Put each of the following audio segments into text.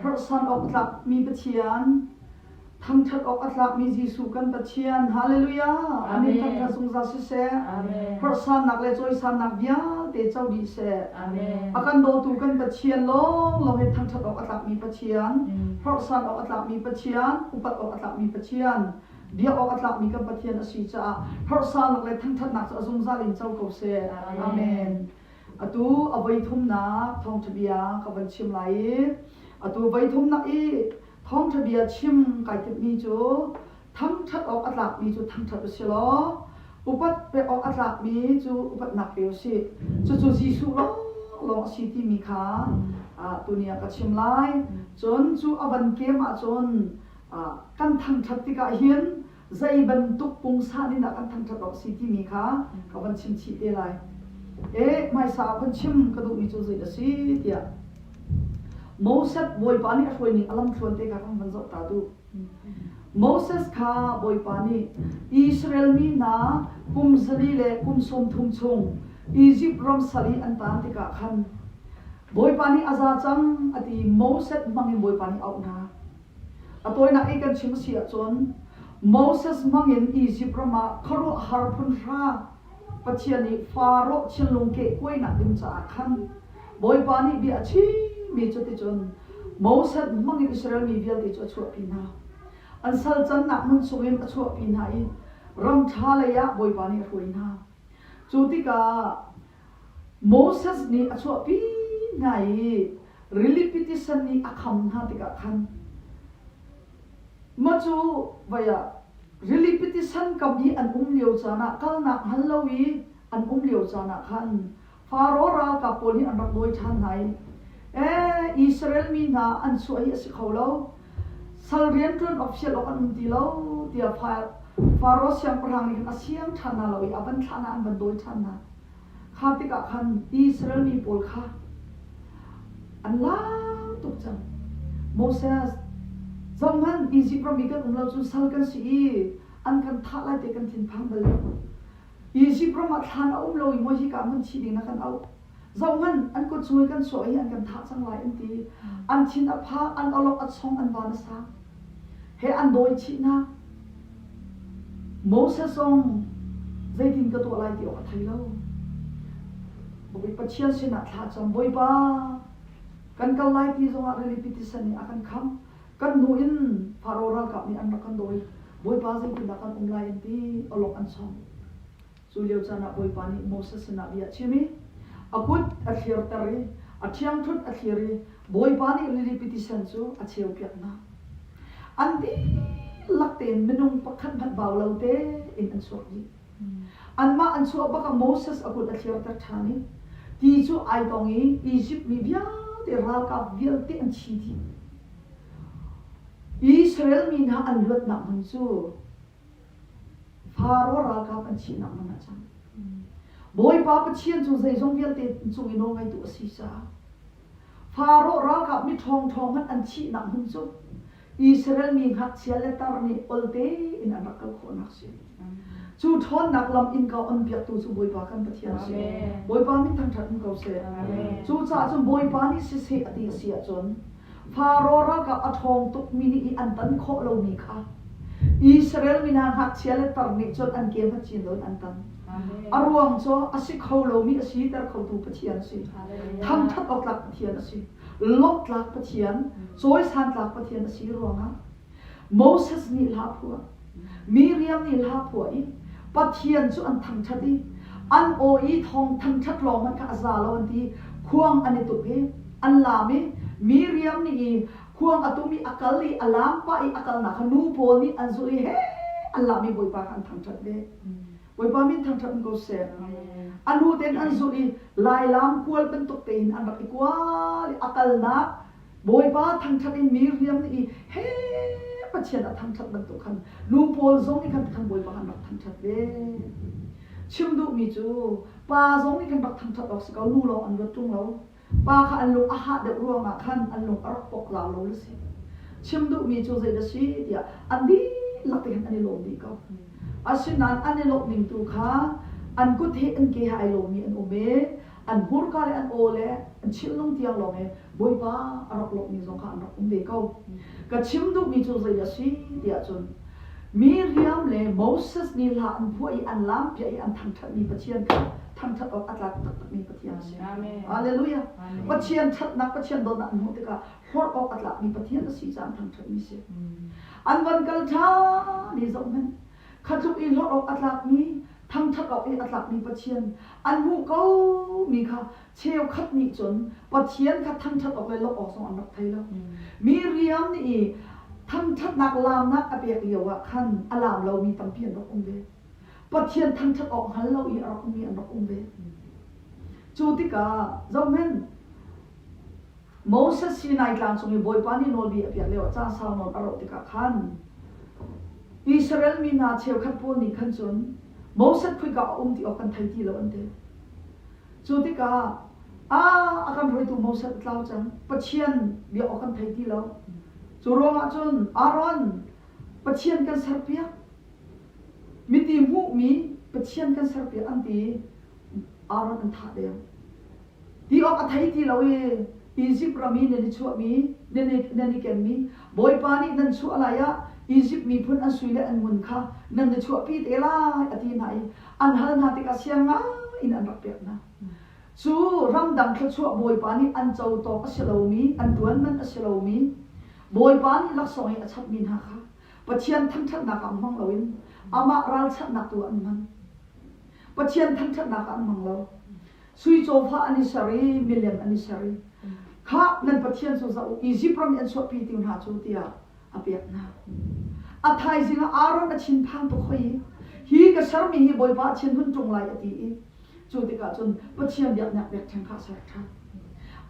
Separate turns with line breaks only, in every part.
Hnurhsan awk a tlakmi Pathian, thangṭhat awk a tlakmi Jesuh kan Pathian, Halleluja! Amen. Thangṭhat zungzal siseh. Hnurhsannak le cawisannak vialte co dih seh. A kan dawtu kan Pathian lawnglawng hi thangṭhat awk a tlakmi Pathian, hnurhsan awk a tlakmi Pathian, upat awk a tlakmi Pathian, biak awk a tlakmi kan Pathian a si caah harsalnak le thangṭhatnak cu a zungzal in co ko seh. Amen. Atu a voithumnak thawngṭhabia ka van chim lai i atu voithumnak i thawngṭhabia chim kai timhmi cu thangṭhat awk a tlakmi cu thangṭhat u si law upat pek awk a tlakmi cu upatnak pe u sih. Cucu Jesuh lawnglawng a si timi kha tuni ah ka chim lai. Cun cu a van kem ahcun kan thangṭhat tikah hin zei bantuk pungsa nih dah kan thangṭhat awk si timi kha ka van chimchih te lai. E, hmaisa ah van chim ka duhmi cu zei a si tiah Moses bawipa nih a hruaining a lamthluan te kha kan van zoh ta duh. Moses kha bawipa nih Israel mi hna kum zali le kum sawmthum chung Izipt ram sal i an tan tikah khan Bawipa nih a za cang a ti i Moses hmangin Bawipa nih a auh hna. A tawinak i kan chim a si ahcun Moses hmangin Izipt ram ah khuaruahhar phunhra Pathian nih Faraoh thinlung kehkuainak ding caah khan Bawipa nih bia a chimmi cuticun Moses hmangin Israel mi vialte cu a chuahpi hna. An sal cannak hmun chungin a chuahpi hna i ram ṭha leiah Bawipa nih a hruai hna. Cu tikah Moses nih a chuahpi hna i rilipiti san nih a kham hna tikah khan mah cu vai ah rilipiti san kam i an um lio caan ah kalnak hngal lo i an um lio caan ah khan Faro ralkap pawl nih an rak dawi ṭhan hna i, ee, Israel mi hna an chuah hi a si kho lo, sal rianṭuan official awk an um ti lo, tiah Faro siangpahrang nih khin a siang ṭhan hna lo i a van thlah hna, an van dawi ṭhan hna. Kha tikah khan Israel mi pawl kha an lang tuk cang. Moses, zoh hmanh, Izipt ram i kan um lo cun sal kan si i an kan thah lai ti kan thinphang bal lo. Egypt ram ah thlan a um lo i maw hika hmun thi ding na kan auh. Zohhmanh, an kutsul kan chuah hi an kan thah cang lai an ti. An thin a pha, an awlok a chong, an van a sang. He an dawi chihnak. Moses zong zeitin ka tuah lai ti awk a thei lo. Bawi Pathian sinah thla cam. Bawipa, kan kal lai ti zongah rili pitisen nih a kan khamh. Kan hnu in Faro ralkap nih an rak kan dawi, Bawipa zeitindah kan um lai an ti, awlok an chawng. Cu lio caan ah Bawipa nih Moses sinah bia a chim i a kut a thlirter i a ṭhiangṭhunh a thlir i Bawipa nih rilipi tisen cu a cheupiak hna. An dihlak tein minung pakhat hmanh bau lo tein an chuak dih. Anmah an chuah bak ah Moses a kut a thlirter ṭhan i ti cu ai dong i Izipt mi vialte ralkap vialte an thi dih. Israel mi hna an luatnak hmun cu Faro ralkap an thihnak hmun ah cang. Bawipa Pathian cu zeizong vialte cung i nawlngeitu a si caah Faro ralkap mi ṭhawngṭhawng hmanh an thihnak hmun cu Israel mi ngakchia le tar nih ol tein an rak kal khawhnak a si. Cu ṭhawnnak lam in ka onpiaktu cu Bawipa kan Pathian a si. Bawipa min thangṭhat um ko seh. Cucaah cun Bawipa nih siseh a ti a si ahcun, Faro ralkap a ṭhawng tukmi nih i an tan khawh lomi kha Israel mi hna ngakchia le tar nih cun an ke hngat chin loin an tan. A ruang cu a si kho lomi a siter khotu Pathian a si. Thangṭhat awk tlak Pathian a si. lawmhtlak Pathian, cawisantlak Pathian a si ruangah Moses nih hla a phuah, Miriam nih hla a phuah i Pathian cu an thangṭhat i an aw i thawng thangṭhat lawng hmanh kha a za lo an ti, khuang an i tuk i an laam i Miriam nih i khuang a tum i a kal i a laam pah i a kalnak kha nu pawl nih an zulh i heh an laam i Bawipa kha an thangṭhat ve. Bawipa min thangṭhat ko seh. A lu ten an zulh i lailaang kual bantuk tein an rak i kual i a kalnak Bawipa thangṭhat in mi hriam nih i he Pathian a thangṭhat bantuk khan lu pawl zong nih khan Bawipa an rak thangṭhat ve. Chim duhmi cu pa zong nih khan rak thangṭhat awk si ko, lu lawng an ruat ṭung lo. pa kha an lung a hah deuh ruangah khan an lung a rak poklau lo a si. Chim duhmi cu zeidah a si tiah an dihlak in an i lawm dih ko. Asinain an i lawmhning tu kha an kut he an ke he ai lomi an um i an hmurka le an aw le an chilnung tiang lawng he Bawipa a rak lawmhmi zong kha an rak um ve ko. Ka chim duhmi cu zeidah a si tiah cun Miriam le Moses nih hla an phuah i an lampiah i an thangṭhatmi Pathian kha thangṭhat awk a tlak taktakmi Pathian a si. Halleluja! Pathian ṭhatnak Pathian dawtnak hmuh tikah hlorh awk a tlakmi Pathian a si caah thangṭhatmi si. An van kal ṭhan i zohhmanh, kha tluk i hlorh awk a tlakmi, thangṭhat awk i a tlakmi Pathian an hmuh komi kha cheukhat nih cun Pathian kha thangṭhat awk le lawmh awk zong an rak thei lo. Miriam nih i thangṭhatnak laamnak a pek lioah khan a laam lomi tampi an rak um ve. Pathian thangṭhat awk hngal lo i a rak ummi an rak um ve. Cu tikah, zohhmanh, Moses Sinai tlang cung i Bawipa nih nawlbia a piak lioah caan sau nawn a roh tikah khan, Israel mi hna cheukhat pawl nih khan cun Moses khuika a um ti awk kan thei ti lo an ti. Cu tikah, aa a kan hruaitu Moses a tlau cang, Pathian bia awk kan thei ti lo. Cu ruangah cun, Aaron, Pathian kan serpiak, Miti hmuhmi Pathian kan ser piak an ti. Aaron an thah deng. Ti awk a thei ti lo i Izipt ram i nan i chuahmi, nan i kenmi Bawipa nih nan chuah lai ah Izipt miphun an sui le an ngun kha nan i chuahpi te lai a ti hna i an hal hna tikah siang ngai in an rak pek hna. Cu ramdang thluachuah Bawipa nih an co tawk a si lomi, an ṭuan man a si lomi, Bawipa nih laksawng i a chamhmi hna kha Pathian thangṭhatnak ah um hmang loin amah ralchanhnak tu ah an hman. Pathian thangṭhatnak ah an hmang lo. Sui cawfa an i ser i milem an i ser i, Kha nan pathian cu zoh u, Izipt ram i an chuahpi ti hna cu, tiah a pek hna. A thaizing ah Aaron a thinphang tuk hoi i, Hi ka sermi hi Bawipa a thin hun ṭung lai, a ti i cu tikah cun Pathian biaknak biakṭheng kha a ser ṭhan.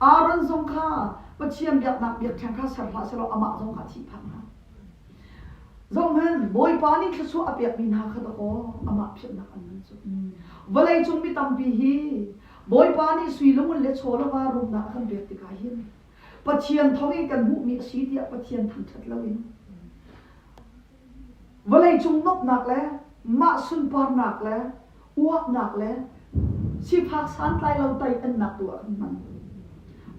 Aaron zong kha Pathian biaknak biakṭheng kha ser hlah sehlaw amah zong kha a thihphah hna. Zohhmanh, Bawipa nih thluachuah a pekmi hna kha dakaw amah philhnak an ngan cu. Vawleicung mi tampi hi Bawipa nih sui lungun le chawlova rumnak a kan pek tikah hin Pathian thawng in kan hmuhmi a si tiah Pathian thangṭhat loin vawleicung nuamhnak le mah sunparnak le Uaknak le sifak santlailo teiannak tu ah kan hman.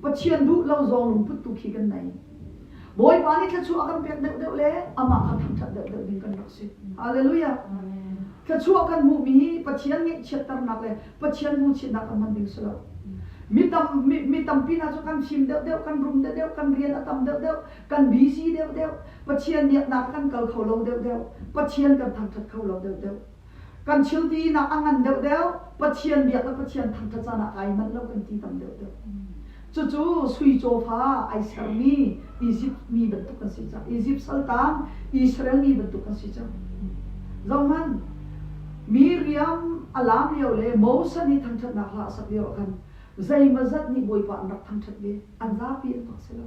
Pathian duh lo zong lungput tu khi kan nei. Bawipa nih thluachuah a kan pek deuhdeuh le amah kha thangṭhat deuhdeuh ding kan rak si. Hallelujah. Thluachuah kan hmuhmi Pathian ngeihchiatternak le Pathian hmuhchiatnak kan hman ding si lo. Mi, tam, mi, mi tampi hna cu kan fim deuhdeuh, kan rum deuhdeuh, kan rian a tam deuhdeuh, kan busy deuhdeuh, Pathian nih a nak a kan kal kho lo deuhdeuh, Pathian kan thangṭhat kho lo deuhdeuh. Kan thiltinak a ngan deuhdeuh, Pathian biak le Pathian thangṭhat canah kai manh lo kan ti tam deuhdeuh. Cucu sui cawfa ai sermi Izipt mi bantuk kan si cang. Izipt saltang Israel mi bantuk kan si cang. Zohhmanh, mi riam a laam lio le Moses nih thangṭhatnak hla a sak lio ah khan zeimazat nih Bawipa an rak thangṭhat ve, an zapi an tuah si lo.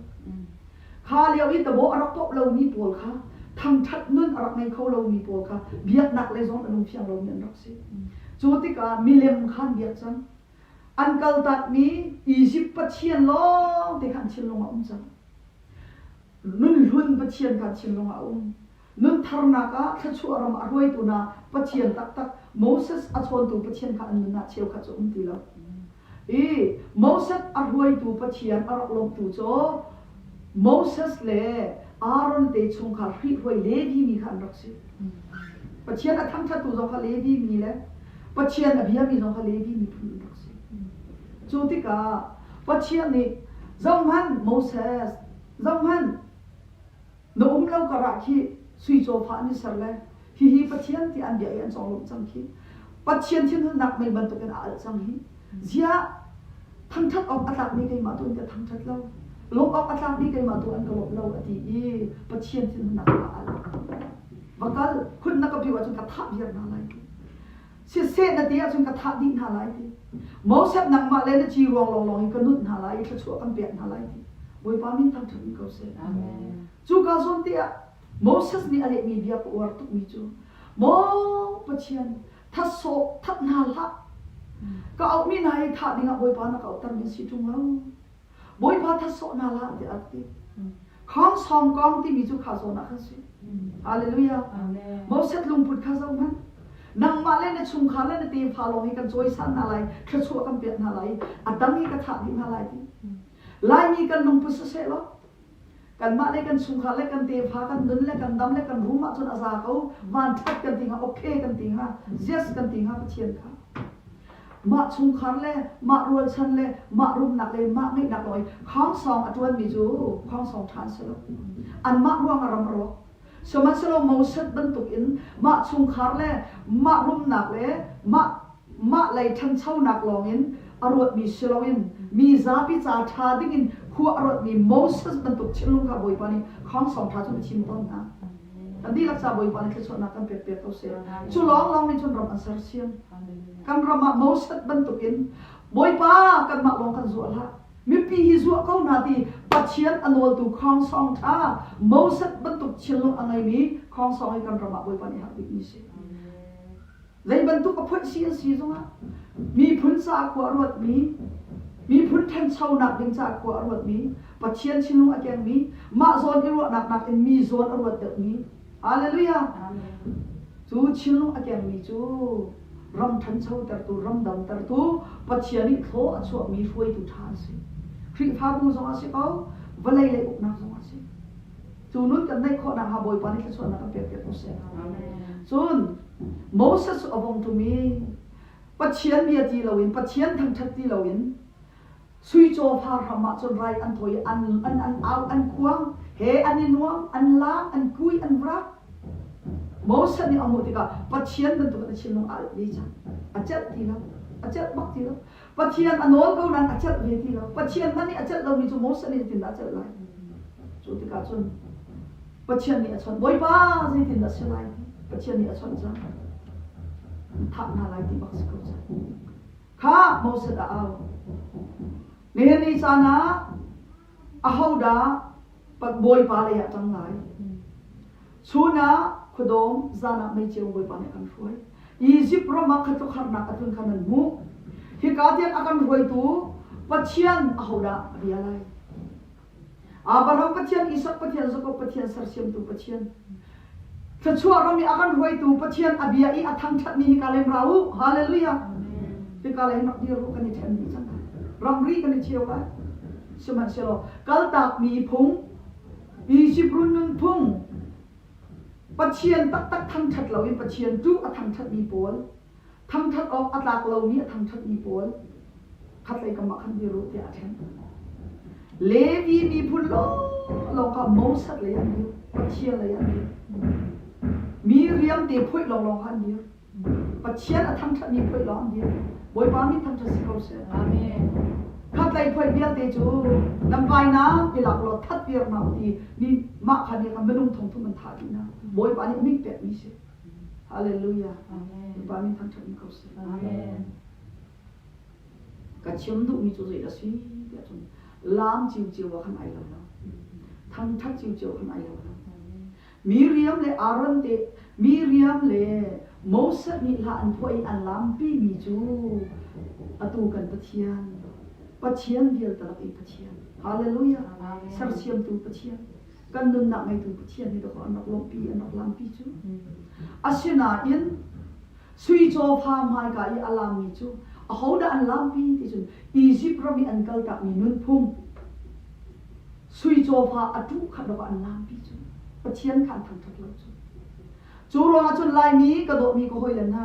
Kha lio i tabawh a rak poh lomi pawl kha, thangṭhat nun a rak ngei kho lomi pawl kha biaknak lei zong a lungthiang lomi an rak si. Cu tikah milem kha an biak cang. An kaltakmi Izipt pathian lawngte kha an thinlung ah a um cang. Nunhlun pathian kha an thinlung ah a um. Nuntharnak ah thluachuah ram a hruaitu hna Pathian taktak, Moses a chawntu Pathian kha an nun ah cheukhat cu a um ti lo. I Moses a hruaitu Pathian a rak lawmhtu cu Moses le Aaron te chungkhar hrihhruai Levi mi kha an rak si. Pathian a thangṭhattu zong kha Levi mi le Pathian a biami zong kha Levi miphun an rak si. Cu tikah Pathian nih, Zohhmanh Moses, zohhmanh, Na um lo karah khih sui cawfa an i ser le hihi Pathian tiah an bia i an conglawmh cang khi Pathian thinhunnak mei bantukin a alh cang hi ziah thangṭhat awk a tlakmi keimah tu in ka thangṭhat lo lawmh awk a tlakmi keimah tu an ka lawmh lo a ti i Pathian thinhunnak kha a alh va kal khun na ka bih ahcun ka thah viar hna lai Siseh na ti ahcun ka thah dih hna lai ti. Moses nangmah le na ci ruang lawnglawng in ka nunh hna lai i thluachuah kan pek hna lai ti. Bawipa min thangṭhat in ko seh. Amen. Cu kaa zuam te ah Moses nih a lehmi bia ka uar tukmi cu, Maw Pathian, that sawh, that hna hlah. Ka auhmi hna i thah dingah Bawipa na ka auhtermi an si ṭung lo. Bawipa thasawhnak lah tiah a ti. Kha sawmkong timi cu kha zawn ah khan si. Hallelujah. Moses lungput kha zohhmanh. Nangmah le na chungkhar le na tefa lawng hi kan cawisan hna lai, thluachuah kan pek hna lai i a tang hi ka thlah dih hna lai ti. Laimi kan lungput siseh law, Kanmah le kan chungkhar le kan tefa, kan nun le kan dam le kan rum ahcun a za ko. Vanṭhat kan ti hnga, okay kan ti hnga, yes kan ti hnga Pathian kha. Mah chungkhar le mah rualchan le mah rumnak le mah ngeihnak law i khawngsawng a ṭuanmi cu khawngsawng ṭha an si lo. Anmah ruangah ram a rawk. Sihmanhsehlaw Moses bantukin mah chungkhar le mah rumnak le mah Mah lei ṭhanchonak lawngin a ruatmi si loin mi zapi ca ṭha dingin khua a rawtmi Moses bantuk thinlung kha Bawipa nih Khang Sawng ṭha cun a thim tawn hna. Kan dihlak ca Bawipa nih thluachuahnak kan pekpiak ko seh. Cu lawnglawng nih cun ram an sersiam. Kan ram ah Moses bantukin Bawipa kanmah lawng kan zuah hlah, mipi hi zuah ko hna ti Pathian a nawltu Khang Sawng ṭha Moses bantuk thinlung a ngeimi Khang Sawng hi kan ram ah Bawipa nih a herh bikmi a si. Zei bantuk a phonh si an si zongah miphun sakhua a ruatmi, miphun ṭhanchonak ding cakhua a ruatmi, Pathian thinlung a kengmi, mah zawn i ruahnak nakin mi zawn a ruat deuhmi, Hallelujah! Cu thinlung a kengmi cu ram ṭhanchotertu, ram damtertu, Pathian nih thlaw a chuahmi hruaitu ṭha an si. Khrihfabu zong ah si ko, vawlei lei uknak zong ah si. Cu nun kan naih khawhnak hnga Bawipa nih thluachuahnak kan pekpiak ko seh. Cun Moses cu a vung ṭum i Pathian bia ti loin Pathian thangṭhat ti loin suicaw far hram ah cun rai an thawi i an an an au an khuang he an i nuam an laang an kui an vrak Moses nih a hmuh tikah Pathian bantukin a thinlung aa rit ve cang a celh ti lo a celh bak ti lo Pathian a nawl ko nain a celh ve ti lo. Pathian hmanh nih a celh lomi cu Moses nih zeitindah a celh lai? Cu tikah cun Pathian nih a chawnh. Bawipa zeitindah a si lai? Pathian nih a chawnh cang. Thah hna lai ti bak si ko cang. Kha Moses a au. Nihin ni caan ah Ahodah Bawipa lei ah cang lai? Chun ah khuadawm, zan ah meicheu Bawipa nih a kan hruai. Izipt ram ah khuatluk harnak a tlun kha nan hmuh. Hika tiang a kan hruaitu Pathian ahodah a bia lai? Abraham Pathian, Isak Pathian, Jakob Pathian, sersiamtu Pathian. Thluachuah ram i a kan hruaitu Pathian a bia i a thangṭhatmi hika leng ra u, haleluia! Hika leng rak dir u, kan i ṭhenmi cang, ramri kan i cheu lai, sihmanhsehlaw kaltakmi phung, Izipt run nunphung, Pathian taktak thangṭhat loin Pathian ṭuh a thangṭhatmi pawl, Thangṭhat awk a tlak lomi a thangṭhatmi pawl khatlei kam ah khan biaruh tiah a ṭhen. Levi miphun lawng kha Moses lei an dir, Pathian lei an dir. Mi riamte phoih lawnglawng kha an dir. Pathian a thangṭhatmi phoih lawng an dir. Bawipa mi thangṭhat si ko seh. Amen. Khatlei phoih vialte cu nan vainak i lak law thatpiaknak u ti mi mah kha biakam minung thongthum an thah dihnak Bawipa nih a mingh pekmi a si. Hallelujah. Bawipa min thangṭhat in ko seh. Amen. Ka chim duhmi cu zei a si tiah cun laam ciuciu ah khan ai lo lo. Thangṭhat ciuciu khan ai lo lo. Miriam le Aaron te Miriam le Moses nih hla an phuah i an laampimi cu atu kan Pathian, Pathian vialte lak i Pathian, Hallelujah, sersiamtu Pathian, kan nunnak ngeitu Pathian nih an rak lawmhpi an rak lampi cu asinain sui cawfa hmaika i a laammi cu ahodah an laampi ti cun Izipt ram i an kaltakmi nunphung sui cawfa a tuh khat rawk an laampi cu Pathian kha an thangṭhat lo cu cu ruangah cun Laimi ka dawhmi ka hawile hna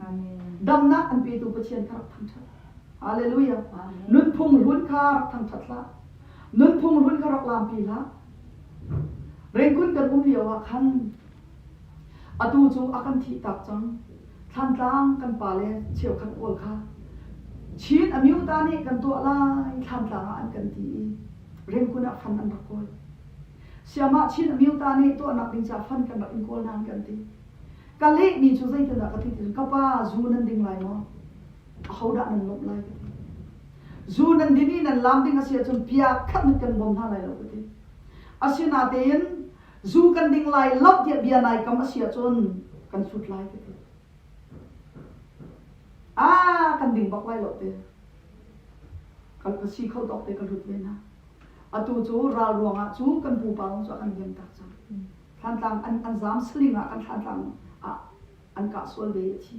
Amen. Damnak an petu Pathian kha rak thangṭhat. Halleluijah! Nunphung run kha rak thangṭhat hlah. Nunphung run kha rak laampi hlah. Rengkun kan um lioah khan atu cu a kan thihtak cang. Thlantlang kan pa le cheukhat pawl kha Chin amyuta nih kan tuah lai thlantlang ah an kan ti i rengkun ah fan an rak kawl. Siamah Chin amyuta nih tuahnak ding ca fan kan rak in kawl nain kan ti. ka lehmi cu zeitindah ka titin ka pa zu nan ding lai maw ahodah nan lawmh lai ka ti zu nan din i nan lam ding a si ahcun piak khat mit kan bawm hna lai lo ka ti asinatein zu kan ding lai lo tiah bia nai kam a si ahcun kan sut lai ka ti ah kan ding bak lai lo te kan ka si kho tawk te ka lut ve hna atu cu ral ruangah cu kan pupa zong cu a kan liam tak cang Thlantlang an, an zaam suling ah kan Thlantlang ah an kah sual ve a thi.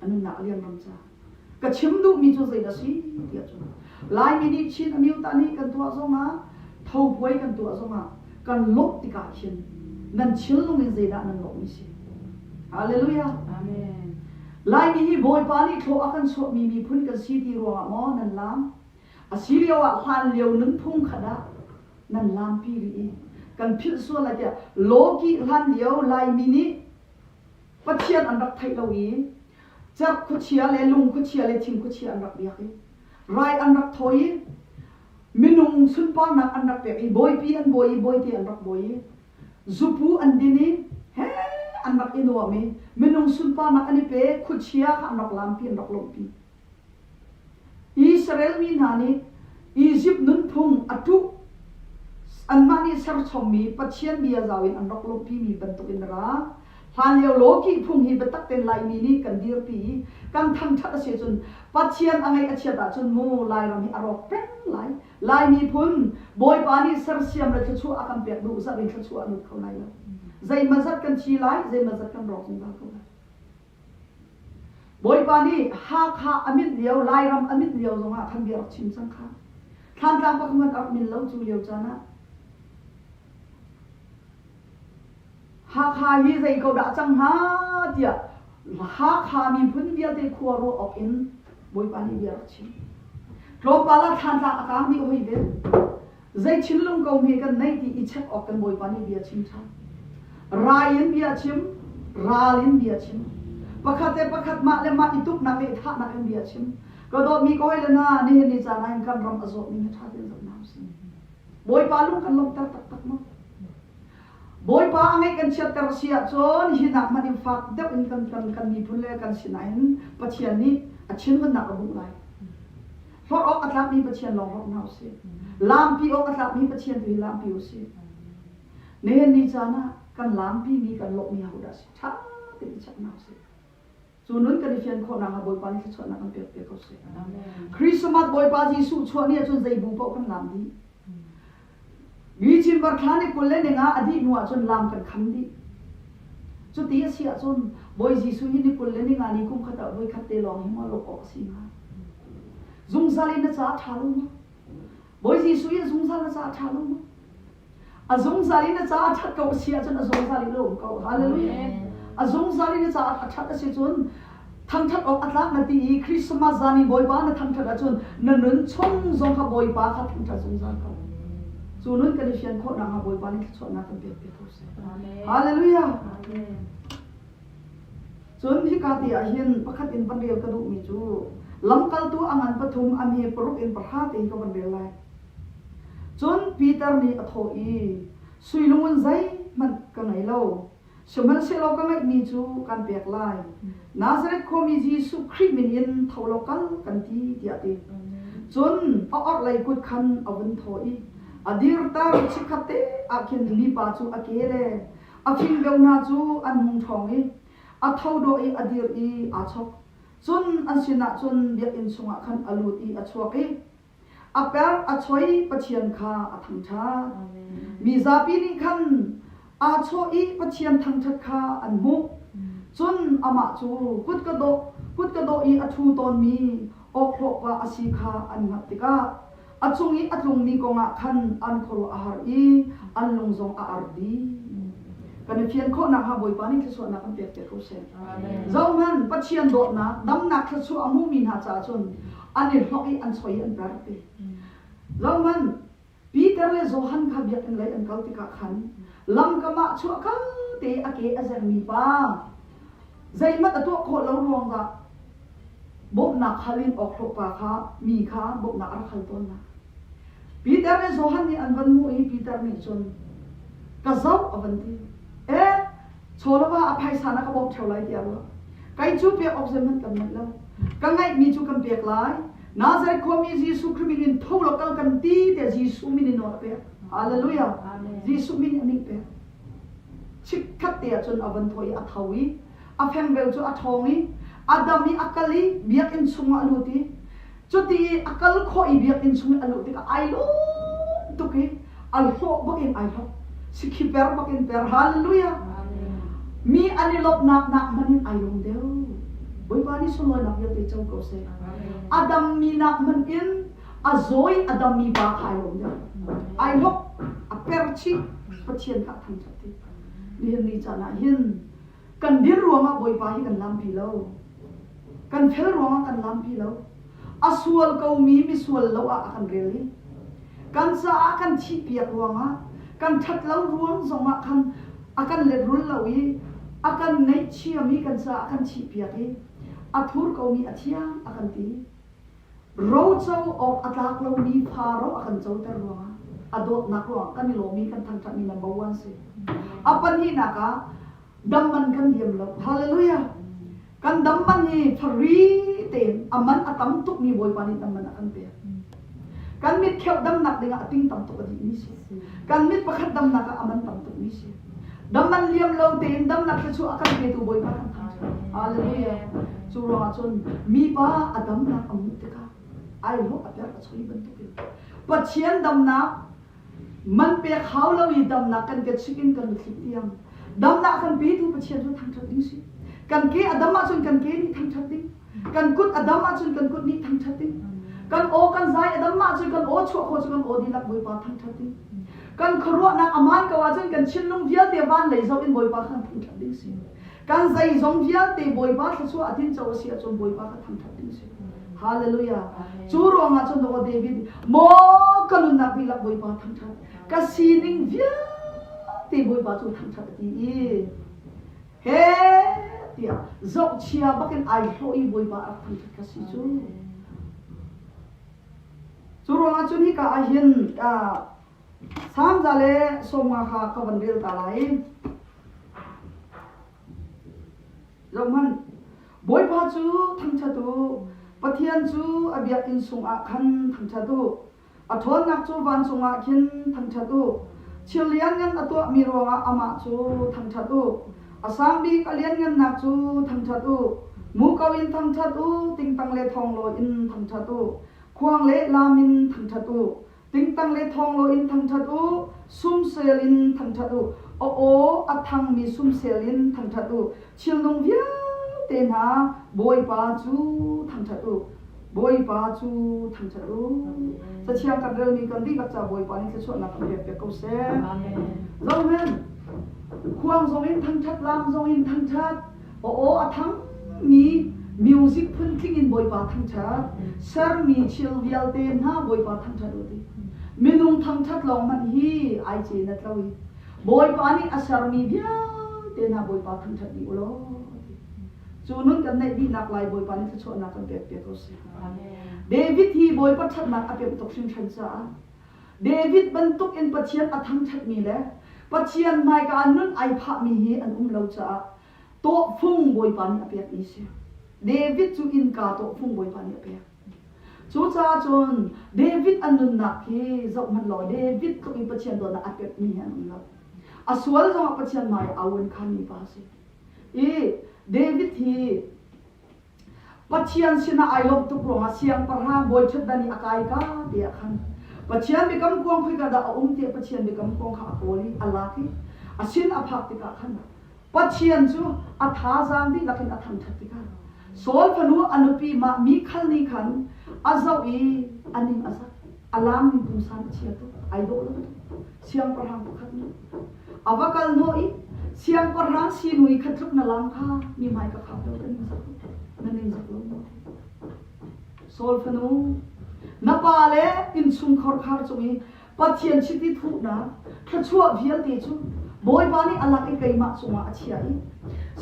A nunnak a liamnam caah. Ka chim duhmi cu zei a si ti ahcun Laimi nih Chin Amyuta nih kan tuah zongah thopuai kan tuah zongah kan lawmh tikah khin nan chillung in zeidah nan lawmhmi si? Halleluja! Amen. Laimi hi Bawipa nih thlawh a kan chuahmi miphun kan si ti ruangah maw nan laam? A si lio ah hlan lio nunphung khat ah nan laampi rih i kan philh sual lai tiah law kih hlan lio Laimi nih Pathian an rak theih lo i cerh khuachia le lung khuachia le thing khuachia an rak biak i rai an rak thawi i minung sunparnak an rak pek i bawipi an bawi i bawite an rak bawi i zupu an din i he an rak i nuam i minung sunparnak an i pe khuachia kha an rak laampi an rak lawmhpi Israel mi hna nih Izipt nunphung a ṭuh, anmah nih serchommi Pathian bia zau in an rak lungpimi bantukin a ra. Hlanlio Loki phung hi biatak tein Laimi nih kan dirpi i kan thangṭhat a si ahcun Pathian a ngaih a chiat ahcun mu Lairam hi a rawk peng lai. Lai miphun Bawipa nih sersiam le thluachuah a kan pek duh zat in thluachuah a lut kho lai lo. Zeimazat kan thi lai, zeimazat kan rawk zungzal ko lai. Bawipa nih Hakha a milh lio, Lairam a milh lio zongah khan bia rak chim cang kha. Thlantlang pakhat a rak mil lo cu lio caan ah. Hakha hi zei ko dah cang hnga tiah Hakha miphun vialte khua ruah awk in Bawipa nih bia rak chim. Tlawmpal ah Thlantlang a kaang dih hoi ve. Zei thinlung ko hme kan neih ti i check awk kan Bawipa nih bia chim ṭhan. Rai in bia chim, ral in bia chim. Pakhat le pakhat mah le mah i tuknak le i thlahnak in bia chim. Ka dawtmi ka hawile hna, nihin ni caan ah hin kan ram a zawh ning hi ṭha tein zoh hna usih. Bawipa lung kan lawmhter taktak maw? Bawipa a ngaih kan chiatter a si ahcun hi nak hmanh in fak deuh in kan, kan, kan miphun le kan sinah hin Pathian nih a thinhunnak a hmuh lai. Forh awk a tlakmi Pathian lawng hmanh hna usih. Laampi awk a tlakmi Pathian tu hi laampi usih. Nihin ni caan ah kan laampimi kan lawhmi ahodah si ṭha tein i chek hna usih. Cu nun kan i fian khawhnak hnga Bawipa nih thluachuahnak kan pekpiak ko seh. Christmas Bawipa Jesuh chuah ni ahcun zei bu paoh kan laam dih. Mi chimbar thla nih kul le ning ah a dih hnu ahcun lam kan kham dih. Cuti a si ahcun Bawi Jesuh hi ni kul le ni nga ni kum khat ah voi khat te lawng hi maw lawk awk a si hnga? Zungzal in na caah ṭha lu mu. Bawi Jesuh hi a zungzal na caah ṭha lu mu. A zungzal in na caah ṭhat ko a si ahcun a zungzal in na um ko. Hallelujah. A zungzal in na caah a ṭhat a si cun Thangṭhat awk a tlak na ti i Christmas zan i Bawipa na thangṭhat ahcun na nun chung zong kha Bawipa kha thangṭhat zungzal ko. Cu nun kan i fian khawh nakhnga Bawipa nih thluachuahnak kan pekpi ko seh. Hallelujah! Cun hika ti ah hin pakhat in van rel ka duhmi cu lamkaltu a ngan pathum a mi paruk in pahra tein ka van rel lai. Cun Peter nih a thawh i, Sui lungun zeihmanh ka ngei lo, Sihmanhsehlaw ka ngaihmi cu kan pek lai, Nazareth khuami Jesuh Khrih min in tho law kal, kan ti, tiah a ti. Cun a orhlei kut khan a vun thaw i a dirter, chikkhat te ah khin mipa cu a ke le a fingdeu hna cu an hung ṭhawng i a tho dawh i a dir i aa chok. Cun an sinah cun biakinn chungah khan a lut i a chuak i A perh a choi Pathian kha a thangṭhat. Mi zapi nih khan aa chawh i Pathian thangṭhat kha an hmuh. Cun amah cu kut ka dawh, kut ka dawh i a ṭhu tawnmi awkhlawhpa a si kha an hngalh tikah, a cung i a tlungmi kongah khan an khuaruah a har i an lung zong a ar dih. Kan i fian khawh nakhnga Bawipa nih thluachuahnak kan pekpiak ko seh. Zohhmanh, Pathian dawtnak, damnak thluachuah a hmumi hna caah cun an i hnok i an choi i an per ti. Roman Peter le Johan kha biakinn lei an kal tikah khan lamkam ah chuahkal te a ke a zermi pa zeihmanh a tuah khawh lo ruang dah bawmhnak hal in awk hlawhpa kha mi kha bawmhnak a rak hal tawnnak. Peter le Johan nih an van hmuh i Peter nih cun ka zoh a van ti. Eh, chawlava a phaisa na ka bawm theo lai tiah ruah kei cu pek awk zeihmanh kan nganh lo ka ngaihmi cu kan pek lai Nazareth khuami Jesuh Khrih min in tho law kal kan ti te Jesuh min in nawl a pek hallelujah Jesuh min in a min pek chikkhat te ahcun a van thawi a tho i a fengbel cu a ṭhawng i a dam i a kal i biakinn chungah a lut i Cuti i a kal khawh i biakinn chung i a luh tikah ai lawm tuk i al hlawh bakin ai hlawh. Sikhi per bakin per. Halleluja! Mi an i lawmhnak nak hmanh in ai lawm deuh. Bawipa nih sunlawinak vialte co ko seh. A dammi nak hmanh in a zawi a dammi pa kha ai lawm deuh. Ai hlawk, a per chih, Pathian kha a thangṭhat dih. Nihin ni caan ah hin Kan dir ruangah Bawipa hi kan lampi lo. Kan fel ruangah kan lampi lo. A sual komi misual lo ah a kan rel i kan caah kan thihpiak ruangah kan ṭhatlo ruang zongah khan a kan lehrul lo i a kan ngaihchiami kan caah kan thihpiak i a thur komi a thiang a kan ti. Roco awk a tlak lomi Faro a kan coter ruangah a dawtnak ruangah kan i lawm i kan thangṭhatmi number one si. A pahnihnak ah dam man kan liam lo. Hallelujah! Kan dam man hi fari tein a man a tam tukmi Bawipa nih dam man a kan pek. Kan mit kheuh damnak dingah a ting tam tuk a dihmi si. Kan mit pakhat damnak ah a man tam tukmi si. Dam an liam lo tein damnak thluachuah a kan petu Bawipa kan thang cu. Hallelujah. Cu ruangah cun mipa a damnak a muh tikah aihlawh a perh a choi bantukin Pathian damnak man pek hau lo i damnak kan kechuih in kan mitthli tiang damnak a kan petu Pathian cu thangṭhat ding si. Kan ke a dam ahcun kan ke nih thangṭhat ding. Kan kut a dam ahcun kan kut nih thangṭhat ding. Kan aw kan zai a dam ahcun kan aw chuah khawh cu kan aw dihlak Bawipa thangṭhat ding. Kan khuaruahnak a man ko ahcun kan thinlung vialte van lei zoh in Bawipa kha thangṭhat ding si. Kan zeizong vialte Bawipa thluachuah a tinco a si ahcun Bawipa kha thangṭhat ding si. Hallelujah. Cu ruangah cun Aw David, maw ka nunnak dihlak Bawipa thangṭhat, ka sining vialte Bawipa cu thangṭhat a ti i he tiah zohchia bakin ai hlawh i Bawipa a rak thangṭhat ka si cu. Cu ruangah cun hika ah hin Samza le Sawmnga kha ka van rel ta lai. Zohhmanh, Bawipa cu thangṭhat u, Pathian cu a biakinn sungah khan thangṭhat u. A ṭhawnnak cu vancung ah khin thangṭhat u, thil lianngan a tuahmi ruangah amah cu thangṭhat u, a sang bik a lianngannak cu thangṭhat u. Muko in thangṭhat u, tingtang le thonglaw in thangṭhat u, khuang le lam in thangṭhat u. Tingtang le thonglaw in thangṭhat u, sumsel in thangṭhat u, a aw a thangmi sumsel in thangṭhat u, Thilnung vialte hna, Bawipa cu thangṭhat u, Bawipa cu thangṭhat u. Cathiang kan relmi kan dihlak ca Bawipa nih thluachuahnak kan pekpiak ko seh. Zohhmanh, khuang zongin thangṭhat, laang zongin thangṭhat, aw a thangmi music phun tling in Bawipa thangṭhat, sermi thil vialte hna Bawipa thangṭhat u ti. Minung thangṭhat lawng hmanh hi ai ce in a tlo i Bawipa nih a sermi vialte hna Bawipa thangṭhat dih u law a ti. Cu nun kan naih dihnak lai Bawipa nih thluachuahnak kan pekpiak ko sih. David hi Bawipa ṭhatnak a pemh tuk hringhran caah David bantukin Pathian a thangṭhatmi le Pathian hmaika ah nun ai phahmi hi an um lo caah tawhfung Bawipa nih a pekmi a si. David cu innka tawhfung Bawipa nih a pek. Cucacun David an nunnak hi zohhmanh law David tluk in Pathian dawtnak a pepmi hi an um lo. A sual zongah Pathian hmaiah a ouan khanmi pa a si. I David hi Pathian sinah ai lawmh tuk ruangah siangpahrang Boichutdan i a kai ka ti ah khan Pathian biakam kuang khoika dah a um tiah Pathian biakam kuang kha a kawl i a lak i a sin a phak tikah khan Pathian cu a thazaang dihlak in a thangṭhat tikah Saul fanu a nupi mah Mikhal nih khan a zoh i a ning a zak, a laang in pumsan a chia tuk, ai dawh lo tuk. Siangpahrang pakhat nih a va kal hnawh i siangpahrang sinui kha tluk na laang kha mi hmai ka phak lo ka ning zak na ning zak lo maw? Saul fanu na pa le innchungkhar khar cung i Pathian chiti thuhnak thluachuah vialte cu Bawipa nih a lak i keimah cungah a chiah i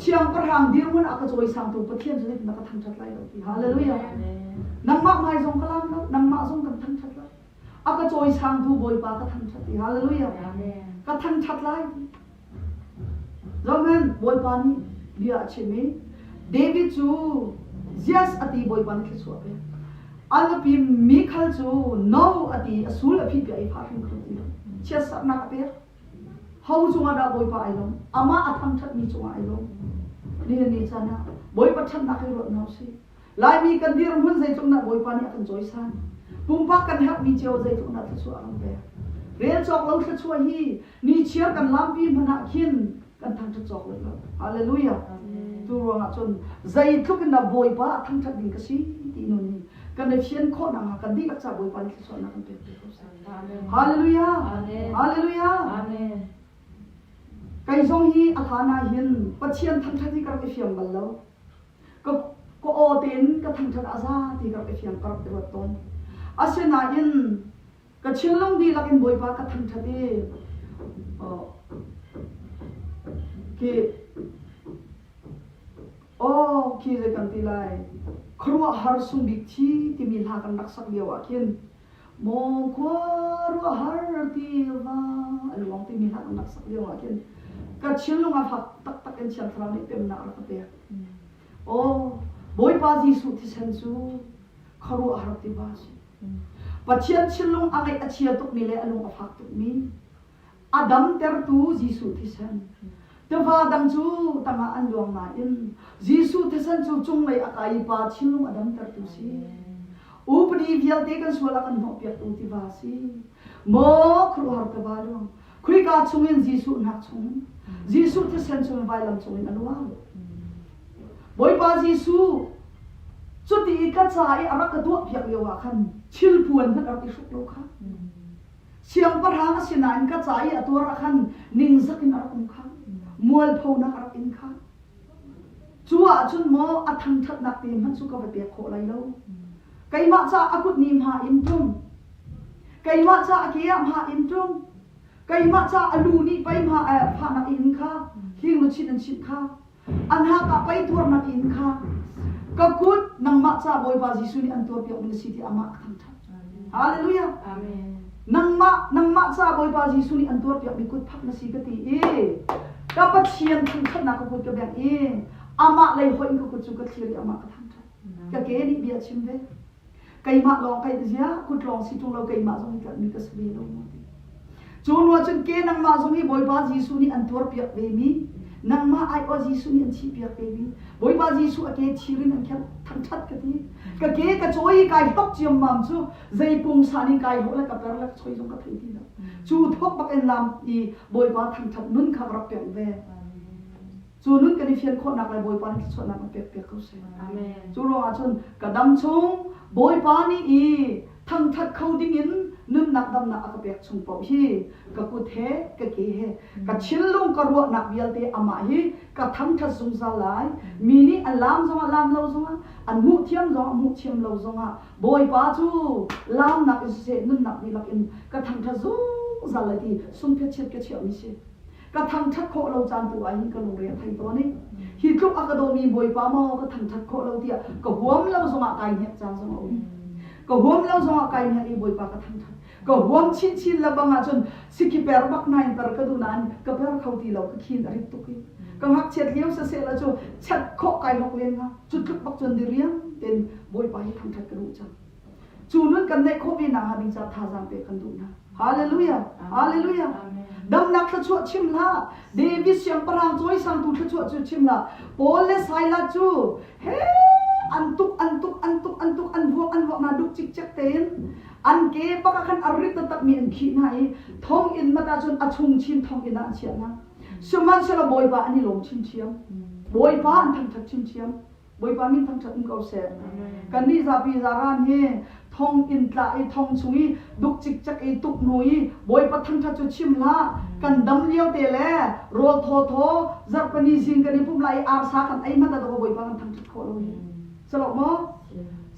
siangpahrang dirhmun a ka cawisangtu Pathian cu zeitin na ka thangṭhat lai lo ti hallelujah! Nangmah hmai zong ka laam lo, nangmah zong kan thangṭhat lai. A ka cawisangtu Bawipa ka thangṭhat ti hallelujah! Ka thangṭhat lai. Johan Bawipa nih bia a chim i David cu yes a ti Bawipa nih thluachuah a pek. A nupi Mikhal cu no a ti a sul a phihpiah i phah hrimhrim a ti lo. Chiatsaknak a pek. Ho cungah dah Bawipa ai lawm? Amah a thangṭhatmi cungah ai lawm. Nihin ni caan ah Bawipa ṭhatnak hi ruat hna u sih. Laimi kan dirhmun zeitluk dah Bawipa nih a kan cawisan. Pumpak kan herhmi cio zeitluk dah thluachuah a kan pek. Rel cawk lo thluachuah hi nichiar kan lampi hmanh ah khin kan thangṭhat cawk lai lo. Halleluja! Cu ruangah cun zeitluk in dah Bawipa ah thangṭhat ding ka si ti nun hi kan i fian khawh nakhnga kan dihlak caah Bawipa nih thluachuahnak kan pek te ko sih. Halleluja! Halleluja! Kei zong hi a hlan ah hin Pathian thangṭhat hi ka rak i fiang bal lo. ka aw tein ka thangṭhat a za ti ka rak i fiang ka rak i ruat tawn asinain ka thinlung dihlak in bawipa ka thangṭhat i ki aw ki zei kan ti lai khuaruahhar sung bik thi timi hla kan rak sak lio ah khin maw khua ruahhar tiva a luang timi hla an rak sak lioah khin ka thinlung a fak taktak in thiang thlarau nih pennak rak ka pek aw bawipa jesuh thisen cu khuaruahhar tiva a si pathian thinlung a ngeih a chia tukmi le a lung a fak tukmi a damtertu Jesuh thisen. Tefa dang cu tangah an luang nain Jesuh thisen cu cunglei a kai i pa thinlung a damtertu si. Upadi vialte kan sual a kan hnawhpiaktu tiva si. Maw khuaruahhar tiva luang, khoika chungin Jesuh hnak chungin, Jesuh thisen chungin vailam cungin a luang. Bawipa Jesuh, cuti i ka ca i a rak ka tuahpiak lioah khan thil puan hmanh rak i hruk law kha Siangpahrang a sinain ka ca i a tuar ah khan ningzak in a rak um kha, mualphonak a rak in kha. Cu ah cun maw a thangṭhatnak te hmanh cu ka va pek khawh lai lo. Keimah ca a kut ni hma in ṭum. Keimah ca a ke ah hma in ṭum. Keimah ca a lu nih pei hma fahnak in kha, hling luchin an chinh kha, A hnak ah pei tuarman inn kha ka kut nangmah ca Bawipa Jesuh nih an tuarpiak ding a si tiah amah a thangṭhat. Halleluja! Amen. Nangmah, nangmah ca Bawipa Jesuh nih an tuarpiakmi kut phak na si ka ti i ka Pathian thangṭhatnak ka kut ka bengh i amah lei hoih in ka kut cu ka thlir i amah ka thangṭhat. Ka ke nih bia a chim ve. Keimah lawng ka in ziah, kut lawng si ṭung lo keimah zong hi ṭuanmi ka si ve lo maw ti. Cu hnu ahcun ke nangmah zong hi Bawipa Jesuh nih an tuarpiak vemi, nangmah aiawh Jesuh nih an thihpiak vemi Bawipa Jesuh a ke thir in an kherh thangṭhat ka ti. Ka ke ka cawi i kai hlok ciammam cu zei pungsa nih kai hlawh le ka per le ka choi zong ka thei ti lo. Cu thawk bak in lam i Bawipa thangṭhat nun kha ka rak pek ve. cu nun kan i fian khawhnak le Bawipa nih thluachuahnak a pekpiak ko seh. Amen. Cu ruangah cun ka dam chung Bawipa nih i thangthat kho dingin nunnak damnak a ka pek chung paoh hi ka kut he, ka ke he, ka thinlung, ka ruahnak vialte amah hi ka thangthat zungzal lai. Mi nih a laam zongah laam lo zongah, an hmuh thiam zongah hmuh thiam lo zongah Bawipa cu laamnak i siseh, nunnak dihlak in ka thangthat zungzal lai ti sungphetchiat ka chiahmi si. ka thangṭhat khawh lo caan tu ah hin ka lungre a thei tawn i hi tluk a ka dawmi Bawipa maw ka thangṭhat khawh lo tiah ka huam lo zongah kai hnek ca zong a um. Ka huam lo zongah kai hnek i Bawipa ka thangṭhat. Ka huam chinchin lebang ahcun sikhi per bak nain per ka duh nain ka per kho ti lo ka khin a rit tuk i ka ngakchiat lio saseh la cu chat khawh kai lok len nga cu tluk bak cun diriam tein Bawipa hi thangṭhat ka duh cang. Cu nun kan neih khawh ve nakhnga ding caah thazaang pe kan duh hna. Hallelujah! Hallelujah! Damnak thluachuah chim hlah. David siangpahrang cawisangtu thluachuah cu chim hlah. Paul le Silas cu he an tuk an tuk an tuk an tuk an vuak an vuak hna duh cikcek tein an ke bak ah khan a rit taktakmi an khih hna i thonginn mat ah cun a chungchin thonginn ah a chiah hna. Sihmanhsehlaw Bawipa an i lawm chinchin. Bawipa an thangṭhat chinchin. Bawipa min thangṭhat um ko seh. Kannih zapi zaran hi thong in tlah i thong chung i duk cikcek i tuknu i Bawipa thangṭhat cu chim hlah. Kan dam lio te le rawl thawthaw, zarhpini zing kan i pumh lai i arsa khan ei hmanh ah dawh Bawipa kan thangṭhat khawh lo hi. Cu lo maw?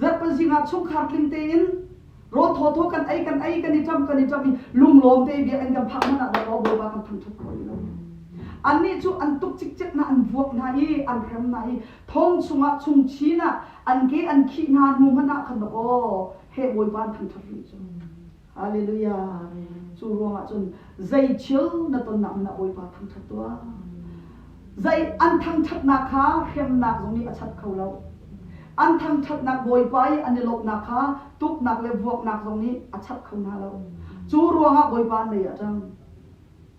Zarhpini zing ah chungkhar tling tein rawl thawthaw kan ei kan ei kan i chawmh kan i chawmh i lunglawm te bia kan kan phah hmanh ah rawl bawipa kan thang thok kho rih lo annih cu an tuk cikcek hna an vuak hna i an hrem hna i thong chungah chung chin ah an ke an khih hna hnu hmanh ah khan aw he bawipa an thang thok rih cu Hallelujah cu ruangah cun zei thil na tonnak in a Bawipa thangṭhat tuah. Zei an thangṭhatnak kha hremnak zong nih a chat kho lo. An thangṭhatnak Bawipa i an i lawmhnak kha tuknak le vuaknak zong nih a chap kho hna lo. Cu ruangah Bawipa an mei a ṭang.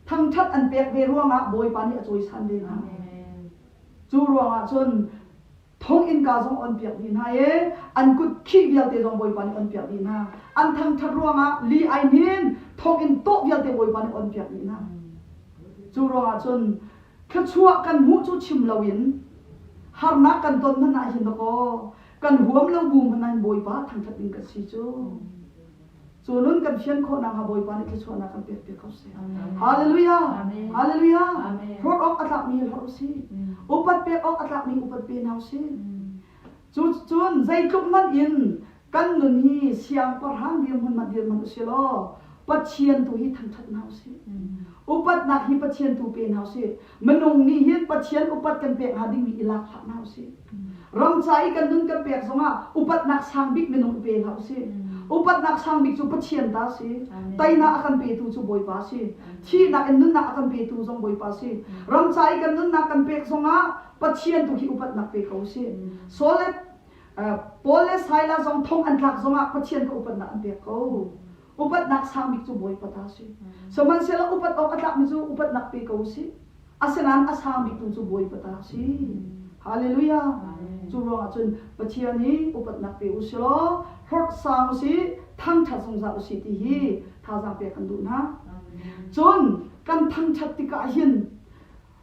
Thangṭhat an pek ve ruangah Bawipa nih a cawisan ve hna. Cu ruangah cun thawng-innka zong on piak dih hna i an kut khih vialte zong Bawipa nih on piak dih hna. An thangṭhat ruangah li ai hnin, thawnginn tawh vialte Bawipa nih on piak dih hna. Cu ruangah cun thluachuah kan hmuh cu chim loin harnak kan ton hmanh ah hin dakaw kan huam lo bu hmanh ah hin Bawipa thangṭhat ding ka si cu. Cu nun kan fian khawhnak hnga Bawipa nih thluachuahnak kan pekpiak ko seh. Hallelujah! Hallelujah! Hlawt awk a tlakmi hlawt u sih. Upat pek awk a tlakmi upat pe hna u sih. Cuticun zeitluk hmanh in kan nun hi siangpahrang dirhmun hmanh dirhman u sih law Pathian tu hi thangṭhat hna u sih. Upatnak hi Pathian tu pe hna u sih. Minung nih hin Pathian upat kan pek hnga dingmi i lak hlah hna usih. Ramca i kan nun kan pek zongah upatnak sang bik minung i pe hlah usih. Upatnak sang bik cu Pathian ta si. Teinak a kan petu cu Bawipa si. Thihnak in nunnak a kan petu zong Bawipa si. Ramca i kan nunnak kan pek zongah Pathian tu khi upatnak pe ko usih. Saul le Paul le Silas zong thong an tlak zongah Pathian kha upatnak an pek ko. Upatnak sangbik cu Bawipa ta a si. Sihmanhsehlaw upat awk a tlakmi cu upatnak pe ko u sih. Asinain a sang biktu cu Bawipa ta a si. Halleluijah! Cu ruangah cun Pathian i upatnak pe u sih law hlorh sang u sih, thangṭhat zungzal u sih ti hi thazaang pek kan duh hna. Cun kan thangṭhat tikah hin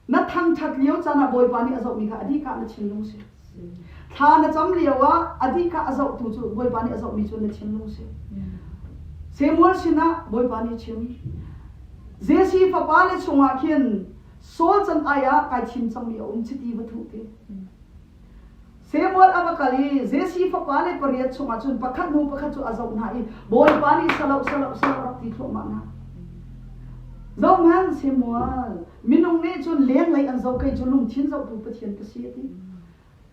Na thangṭhat lio can ah Bawipa nih a zohmi kha a dih kah na thinlung si. Thla na cam lio ah a dih kah a zohtu cu Bawipa nih a zohmi cu na thinlung si. Samuel sinah Bawipa nih chim, Jesse fapa le chungah khin Saul can ai ah kai thim cangmi a um chiti va thuh ti. Samuel a va kal i Jesse fapa le pariat chungah cun pakhat hnu pakhat cu a zoh hna i Bawipa nih salo salo salo rak ti thluahmah hna. Zohhmanh Samuel, minung nih cun lenglei an zoh kei cu lungthin zohtu Pathian ka si a ti.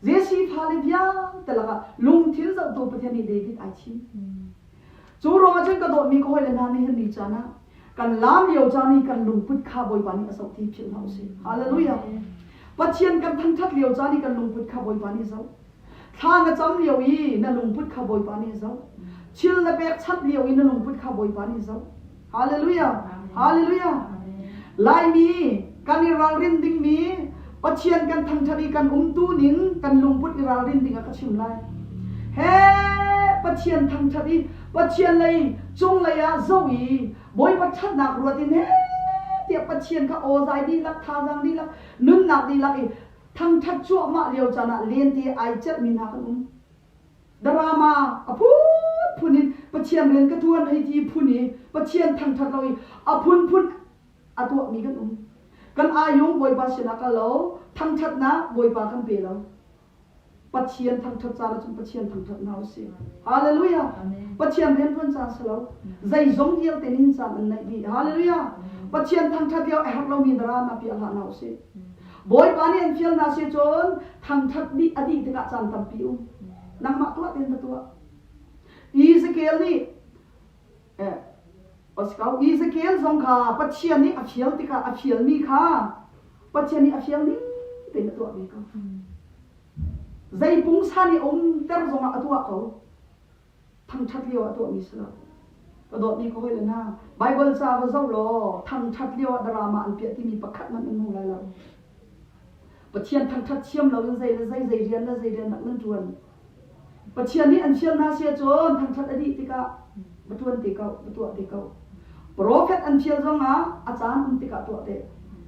Jesse fale vialte lakah lungthin zohtu Pathian nih David ai thim. Cu ruangah cun ka dawtmi ka hawile hna nih hin ni caan ah kan laam lio caan i kan lungput kha Bawipa nih a zoh ti philh hna usih. Hallelujah. Pathian kan thangṭhat lio caan i kan lungput kha Bawipa nih a zoh. Thla na cam lio i na lungput kha Bawipa nih a zoh. Thil na pekchanh lio i na lungput kha Bawipa nih a zoh. Hallelujah! Hallelujah! Laimi kan i ralrin dingmi Pathian kan thangṭhat i kan umtu ning kan lungput i ralrin dingah ka chim lai. He Pathian thangṭhat i Pathian lei cunglei ah zoh i Bawipa ṭhatnak ruat in he tiah Pathian kha awzai dihlak thazaang dihlak nunnak dihlak i thangṭhat cuahmah lio caan ah lente ai celhmi hna kan um. Drama a phunphun in Pathian rian ka ṭuan hei ti phun i Pathian thangṭhat lo i a phunphun a tuahmi kan um. Kan ayung Bawipa sinah kal lo, thangṭhatnak Bawipa kan pe lo. Pathian thangṭhat caan ahcun Pathian thangṭhat hna u sih. Halleluja! Pathian rianṭuan caan si lo. Zeizong vialte ningcang an naih dih. Halleluja! Pathian thangṭhat lio a herh lomi drama piah hlah hna u sih. Bawipa nih an fial hna si cun thangṭhat nih a dih tikah caan tampi um. Nangmah tuah ti na tuah. Ezekiel nih eh, Ezekiel zong kha Pathian nih a fial tikah a fialmi kha Pathian nih a fial ning tein a tuah ve ko. Zei pungsan i umter zongah a tuah ko. thangṭhat lio ah tuahmi si lo. Ka dawtmi ka hawile hna, Baibal ca va zoh law thangṭhat lioah drama an piah timi pakhat hmanh nan hmu lai lo. Pathian thangṭhat thiam loin zei le zei, zei rian le zei rian dah nan ṭuan? Pathian nih an fial hna si ahcun thangṭhat a dih tikah va ṭuan te ko, va tuah te ko. Profet an fial zongah a caan um tikah tuah te.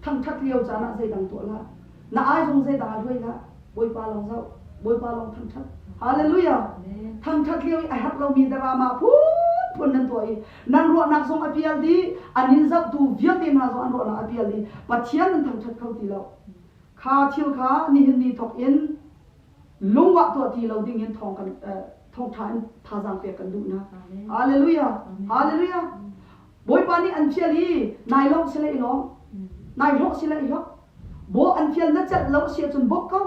Thangṭhat lio caan ah zeidang tuah hlah. Na ai zong zeidah a ruai hlah, Bawipa lawng zoh, Bawipa lawng thangṭhat. Hallelujah! Thangṭhat lio i a herh lomi drama phunphun nan tuah i nan ruahnak zong a pial dih, an in zohtu vialte hna zong an ruahnak a pial dih, Pathian nan thangṭhat kho ti lo. Kha thil kha nihin ni thawk in lungwah tuah ti lo ding in thawng kan thawngṭha in thazaang pek kan duh hna. Hallelujah! Hallelujah! Bawipa nih an fial i nai lo si lei lawm, nai hlawh si lei hlawk. Bo an fial na celh lo si ahcun bawk ko.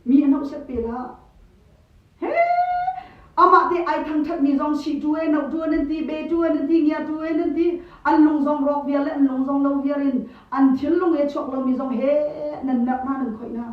Mi an hauh set pe dah. He amah te ai thangthatmi zong si tu e, no tu an an ti, be tu an an ti, ngia tu en an ti, an lung zong rawk viar le an lung zong lo viar in an thil lung e chuak lomi zong he nan merh hna nan khoih hna.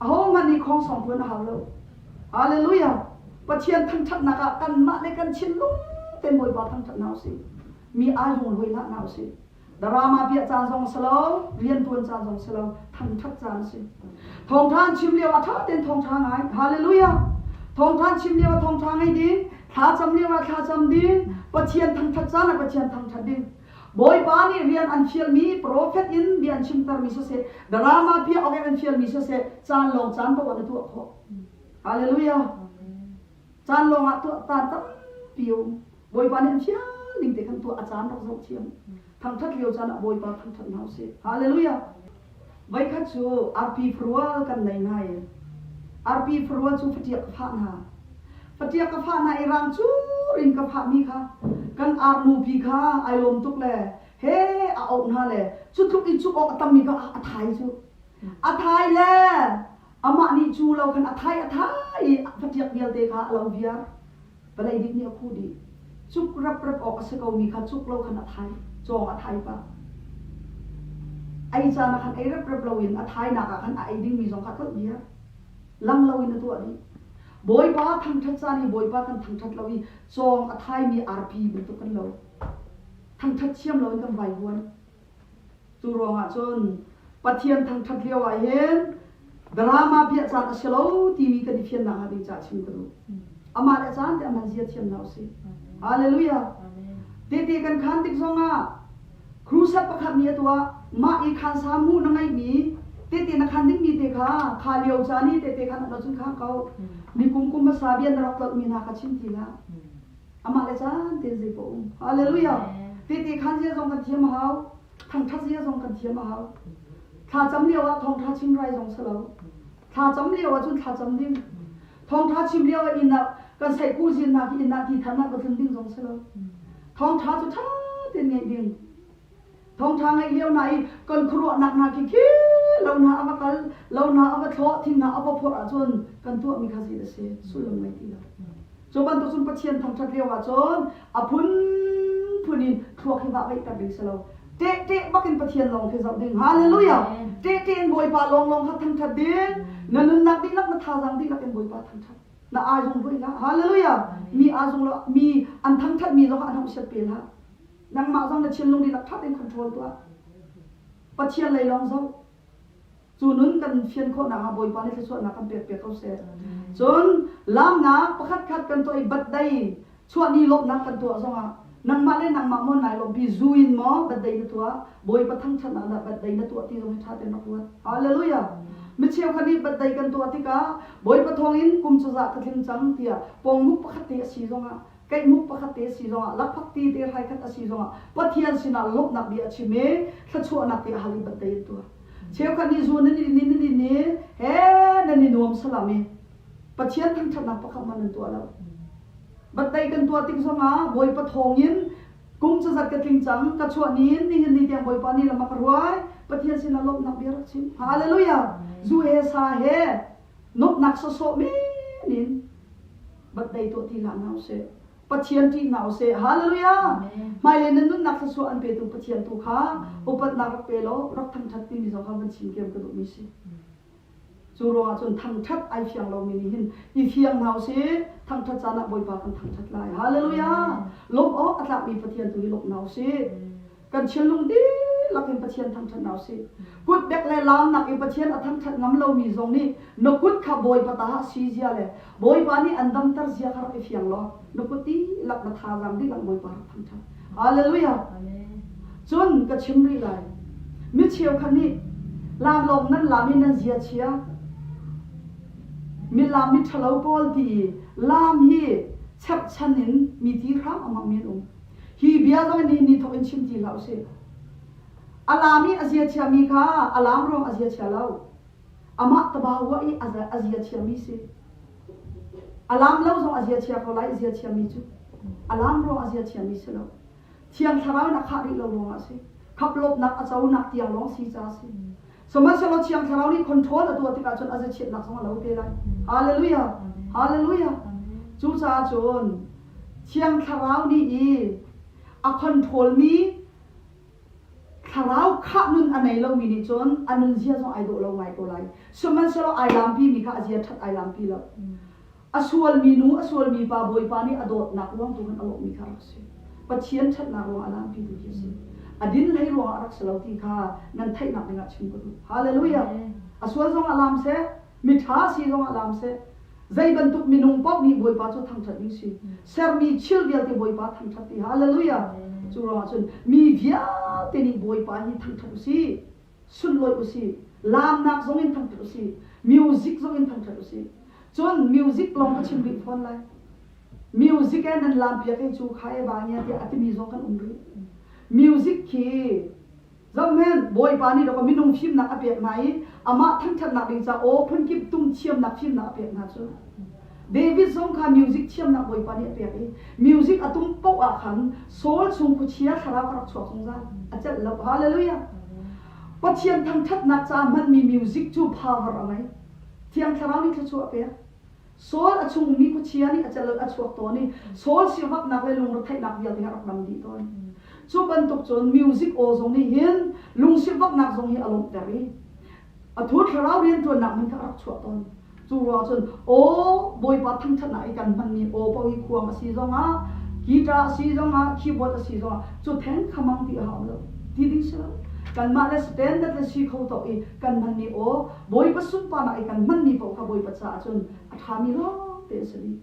ahohmanh nih khawng sawng phuan a hau lo. Halleluja! Pathian thangṭhatnak ah kanmah le kan thinlung tein Bawipa thangṭhat hna usih. Mi ailung lawi hlah hna usih. Drama piah caan zong si lo, rianṭuan caan zong si lo, thangṭhat caan a si. Thawngṭha chim lio a ṭha tein thawngṭha ngai. Halleluja! Thawngṭha chim lio ah thawngṭha ngei ding, thlacam lio ah thlacam ding, Pathian thangṭhat caan ah Pathian thangṭhat ding. Bawipa nih rian an fialmi profet in bia an chimtermi siseh, drama piahawk in an fialmi siseh, caan lawng caan paoh an i tuah khawh. Hallelujah! Caan lawng ah tuah caan tampi a um. Bawipa nih an fial ning te khan tuah a caan rak zoh thiam. Thangthat lio caan ah Bawipa thangthat hna usih. Hallelujah! Voikhat cu arpi farual kan nei ngai. Arpi farua cu fatiak ka fah hna. Fatiak ka fah hna i rangcur in ka fahmi kha kan arnu pi kha ai lawm tuk le he a auh hna le cu tluk i cuh awk a tammi kha a thai cu. A thai le amah nih cu lo khan a thai a thai i fatiak vialte kha a lo viar. Palei dik nih a khuh dih. Cuk raprap awk a si komi kha cuk lo khan a thai, cawng ah thai pah. Ei caan ah khan ei raprap loin a thainak ah khan a ei dingmi zong kha tlolh diar. Lang loin a tuah dih. Bawipa thangṭhat caan hi Bawipa kan thangṭhat lo i cawng a thaimi arpi bantuk kan lo. Thangṭhat thiam loin kan vai huan. Cu ruangah cun Pathian thangṭhat lio ah hin drama piah caan a si lo timi kan i fian nakhnga ding caah chim ka duh. Amah le caan te aman zia thiam hna usih. Hallelujah. Tehte kan khaan tik zongah crusade pakhat nih a tuah. Mah i khaan sa hmuh na ngeihmi tehte na khaan dingmi te kha kha lio caan i tehte khaan um lo cun khaan ko. Mi kum kum hmasa bia na rak tlolhmi hna kha chim ti hlah. amah le caan tein zei pawh um. Hallelujah. Tehte khan zia zong kan thiam a hau. Thangthat zia zong kan thiam a hau. Thlacam lio ah thawngtha chim rai zong si lo. Thlacam lio ah cun thlacam ding. Thawngtha chim lio ah inn ah kan saihku zin nak i inn ah ti tharnak va tlun ding zong si lo. Thawngtha cu tha tein ngaih ding. Thawngṭha ngeih lio hna i kan khuaruahnak hna khi khi lo hna a va kal, lo hna a va thlawh, thil hna a va phurh ahcun kan tuahmi kha zeidah a si sullam ngei ti lo. Cu bantuk cun Pathian thangṭhat lio ahcun a phunphun in thluak hi vahveihter ding si lo. Tehte bakin Pathian lawng khi zoh ding. Hallelujah! Tehte in Bawipa lawnglawng kha thangṭhat ding. Na nunnak dihlak, na thazaang dihlak in Bawipa thangṭhat. Na aizung ruih hlah. Hallelujah! Mi aazung lo, mi an thangṭhatmi zong an hong siat pe hlah. Nangmah zong na thinlung dihlak ṭhat in control tuah. Pathian lei lawng zoh. Cu nun kan fian khawhnak ah Bawipa nih thluachuahnak kan pekpiak ko seh. Cun lamnak pakhatkhat kan tuah i batdei chuahni lawmhnak kan tuah zongah nangmah le nangmah maw nai lawmh pi zu in maw batdei na tuah, Bawipa thangṭhatnak dah batdei na tuah ti zong hi ṭha tein rak ruat. Halleluijah! Mi cheukhat nih batdei kan tuah tikah Bawipa thawngin kum cazah ka tling cang tiah pawngmuk pakhat te a si zongah Keihmuk pakhat te a si zongah, lakphak te dehhai khat a si zongah Pathian sinah lawmhnak bia a chim i thluachuahnak bia a hal i banhtai a tuah. Cheukhat nih zu nan in i nan in i he nan i nuam salam i Pathian thangṭhatnak pakhat hmanh nan tuah lo. Banhtaih kan tuah tik zongah Bawipa thawngin kum cazat ka tling cang, ka chuah ni in nihin ni tiang Bawipa nih lam a ka ruai, Pathian sinah lawmhnak bia a rak chim. Halleluijah! Zu he sa he Nuamhnak sawsawh men in vat dei tuah ti hlah hna usih. Pathian ṭih hna usih. Hallelujah! Hmailei nan nunnak thluachuah an petu Pathian tu kha upatnak rak pe law rak thangṭhat timi zong kha van chim thiam ka duhmi si. Cu ruangah cun thangṭhat ai fiang lomi nih hin i fiang hna usih. Thangṭhat caan ah Bawipa kan thangṭhat lai. Hallelujah! Lawmh awk a tlakmi Pathian tu hi lawmh hna usih. kan thinlung dihlak in Pathian thangṭhat hna usih. Kutbek le laamnak i Pathian a thangṭhat ngam lomi zong nih na kut kha Bawipa ta ah si zia le Bawipa nih an damter zia kha rak i fiang law na kut dihlak na thazaang dihlak Bawipa rak thangṭhat. Halleluijah! Cun ka chim rih lai. Mi cheukhat nih laamlawng nan laam i nan ziachia, milaam miṭhalo pawl ti i laam hi cherhchan in mi ti hram-ammang mi an um. Hi bia zong nihin ni thawk in chim ti hlah usih. A laam i a zia chiami kha a laam ruang a zia chia lo. Amah tabauah i a zia chiami si. A laam lo zong a zia chia ko lai, i zia chiami cu. A laam ruang a zia chiami si lo. Thiang thlarau in a khah rih lo ruangah a si. Khaplawpnak a conak tiang lawng si ca a si. Sihmanhsehlaw Thiang Thlarau nih control a tuah tikah cun a zechiatnak zong a lo te lai. Hallelujah! Hallelujah! Cucaah cun Thiang Thlarau nih i a controlmi thlarau khah nun a nei lomi nih cun a nunzia zong ai dawh lo ngai ko lai. Sihmanhsehlaw ai lampimi kha a zia ṭhat ai lampi lo. A sualmi nu, a sualmi pa Bawipa nih a dawtnak ruang tu khan a lawmhmi kha a rak si. Pathian ṭhatnak ruangah a lampitu hi a si. A din hlei ruangah a rak si lo ti kha nan theihnak dingah chim ka duh. Halleluijah! A sual zongah laam seh, miṭha a si zongah laam seh. Zei bantuk minung paoh nih Bawipa cu thangṭhat ding si. Sermi thil vialte Bawipa thangṭhat ti. Halleluijah! Cu ruangah cun mi vialte nih Bawipa hi thangṭhat u sih. sunhlawih usih, laamnak zong in thangṭhat usih, music zong in thangṭhat usih. Cun music lawng ka chim rih fawn lai. Music e nan laampiak i cu kha e va ngia tiah a timi zong kan um rih. Music khi zohhmanh, Bawipa nih rawk minung fimnak a pek hna i amah thangṭhatnak ding caah aw phun kip tung thiamnak fimnak a pek hna cu. David zong kha music thiamnak Bawipa nih a pek i music a tung paoh ah khan Saul chung khuachia thlarau a rak chuak zungzal, a celh lo. Hallelujah! Pathian thangṭhatnak caah hmanmi music cu pha har a ngei. Thiang Thlarau nih thluachuah a pek. Saul a chung ummi khuachia nih a celh, a chuak tawn i Saul siangaknak le lungretheihnak vialte rak dang dih tawn. Cu bantuk cun music aw zong nih hin lungsivaknak zong hi a lawmhter i Atu thlarau rianṭuannak hmun kha a rak chuah tawn. Cu ruang cun aw Bawipa thangṭhatnak i kan hmanmi aw paohi khuang a si zongah, kita a si zongah, khibual a si zongah cu theng khamang ti a ha um lo ti ding si lo. Kanmah le standard le si kho tawk i kan hmanmi aw Bawipa sunparnak i kan hmanmi paoh kha Bawipa caah cun a ṭhami lawngte a si dih.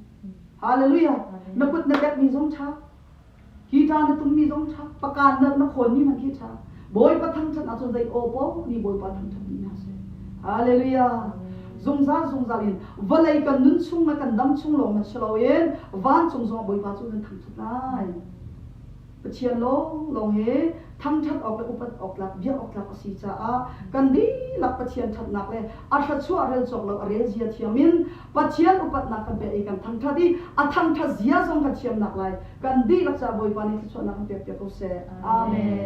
Hallelujah! Na kut na pekmi zong ṭha Hi ca na tummi zong ṭha, pakaan nalh na khawnmi hmanh khi ṭha. Bawipa thangṭhat ahcun zei aw paoh nih Bawipa thangṭhat ni hna seh. Hallelujah! Zungzal zungzal in vawlei kan nun chung le kan dam chung lawng na si loin vancung zongah Bawipa cu nan thangṭhat lai. Pathian lawnglawng he thangṭhat awk le upat awktlak, bia awktlak a si caah kan dihlak Pathian ṭhatnak le a thluachuah rel cawk lo a rel zia thiang in Pathian upatnak kan pek i kan thangṭhat i a thangṭhat zia zong kan thiamnak lai kan dihlak caah Bawipa nih thluachuahnak kan pekpiak ko seh. Amen.